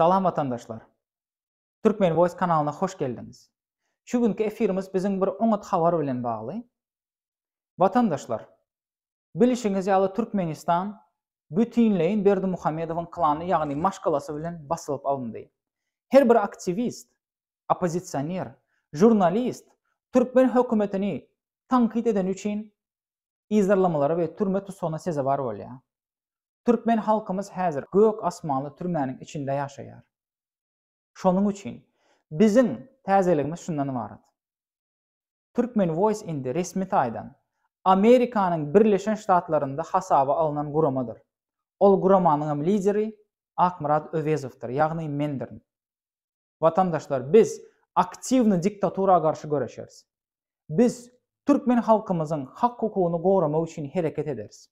Salam watandaşlar! Turkmen Voice kanalyna hoş geldiňiz. Şu günki efirimiz biziň bir oňat habar bilen bagly. Watandaşlar! Bilşiňiz ýaly Türkmenistan bütinleýin Berdimuhamedowyň klany ýagny maşgalasy bilen basylyp alyndy. Her bir aktiwist, oppozisioner, žurnalist türkmen hökümetini tankyt edeni üçin yzarlamalara we türme tussagyna sezewar bolýar. Türkmen halkymyz häzir gök asmanly türmäniň içinde ýaşaýar. Şonuň üçin biziň täzeligimiz şundan ybarat. Turkmen Voice indi resmi taýdan Amerikanyň Birleşen Ştatlarynda hasaba alnan guramadyr. Ol guramanyňam lideri Akmyrat Öwezowdyr, ýagny mendirin. Watandaşlar, biz aktiwny diktatura garşy göreşeris. Biz türkmen halkymyzyň hak-hukugyny goramak üçin hereket ederis.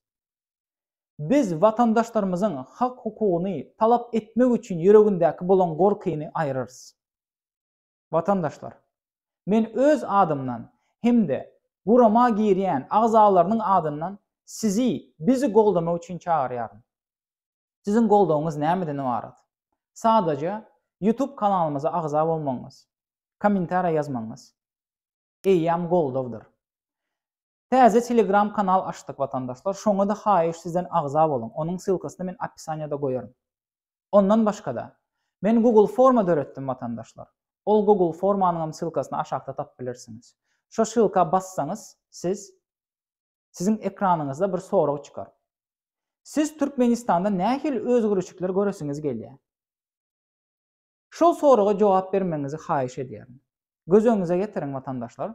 Biz watandaşlarymyzyň hak-hukugyny talap etmek üçin ýüregindäki bolan gorkyny aýyrarys. Watandaşlar! Men öz adymdan hem-de gurama girýän agzalarynyň adyndan sizi bizi goldamak üçin çagyrýaryn. Siziň goldawyňyz nämeden ybarat? Sadaja YouTube kanalymyza agza bolmagyňyz, kommentariýa ýazmagyňyz eýýäm goldawdyr. Täze telegram kanal açdyk watandaşlar şoňada haýyş sizden agza boluň onuň sylkasyny men opisaniýada goýaryn. Ondan başgada Men google forma döretdim watandaşlar ol google formanyňam sylkasyny aşakda tapyp bilersiňiz. Şo sylka bassaňyz siz siziň ekranyňyzda bir sorag çykar. Siz Türkmenistanda nähili özgürişikler göresiňiz gelýä? Şol soraga jogap bermegiňizi haýyş edýärin. Göz öňüňize getiriň watandaşlar,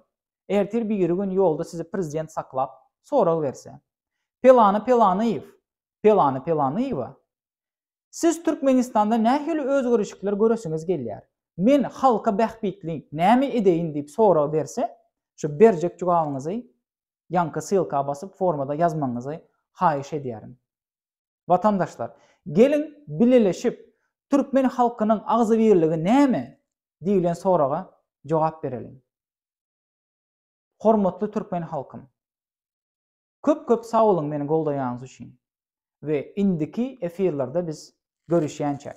ertir biri gün ýolda sizi prezident saklap, sorag berse, Pelany Pelanyýew, Pelany Pelanyýewa, siz Türkmenistanda nähili özgerişikler göresiňiz gelýär, men halka bähbitli näme edeýin diýip sorag berse, şu berjek jogabyňyzy ýaňky ssylka basyp formada ýazmagyňyzy haýyş edýärin. Watandaşlar, geliň bileleşip, Türkmen halkynyň agzybirligi näme? diýlen soraga jogap bereliň. Hormatly Türkmen halkym! Köp köp sag boluň meni goldaýanyňyz üçin we indiki efirlerde biz görüşýänçäk.